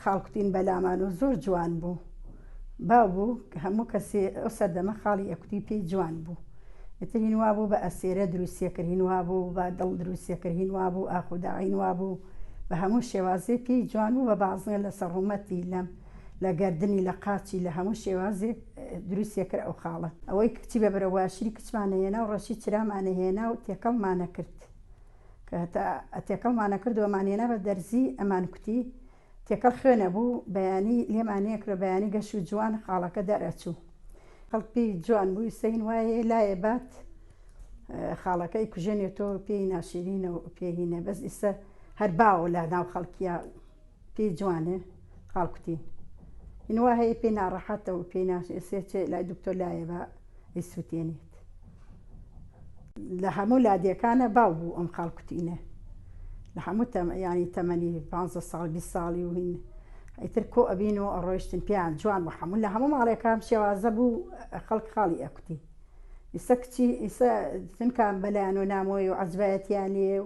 خاڵکوتین بەلامان و زۆر جوان بوو باو بوو هەموو کەسێ ئەو سەردەمە خاڵی ئەکوتی پێی جوان بوو ئەترین وا بوو بە ئەسێرە دروستیەکردین وا بوو بە دڵ دروستیەکردین وا بوو ئاخوداعین وا بوو بە هەموو شێوازێ پێی جوان بوو بە بازنە لەسەر ڕوومەتی لەم لە گەردنی لە قاچی لە هەموو شێوازێ دروستیە کرد ئەو خاڵە ئەوەی کچی بە برە واشری کچمانە هێنا و ڕەشی چرامانە هێنا و تێکەڵمانە کرد کە هەتا ئەتێکەڵمانە کرد وەمان هێنا بە دەرزی ئەمان کوتی تێکەڵ خوێنە بوو بەیانی لێمانەیە کرە بەیانی گەش و جوان خاڵەکە دەرەچوو خەڵپی جوان بووی سەین وایە لایە بات خاڵەکەی کوژێنێ تۆ پێی ناشرینە و پێهینە بەس ئیسە هەر باوە لە ناو خەڵکیە پێی جوانێ قالکوتین یعنی وا هەیە پێی ناڕەحەتە و پێی ناشێ چێ لای دکتۆر لایە بە ئیسووتێنێت لە هەموو لادیەکانە باو بوو ئەم قالکوتینە لە هەموو ینی تەمەنی پ ساڵ 20 ساڵی و هین ئیتر کۆ ئەبین و ئەڕۆیشتن پێیان جوان بە هەموو لە هەموو ماڵێکان شێوازە بوو خەڵک خاڵی ئەکوتی ئیسە کچی ئیسە چونکان بەلایەن و نامۆی و عجبایەتیان لێ و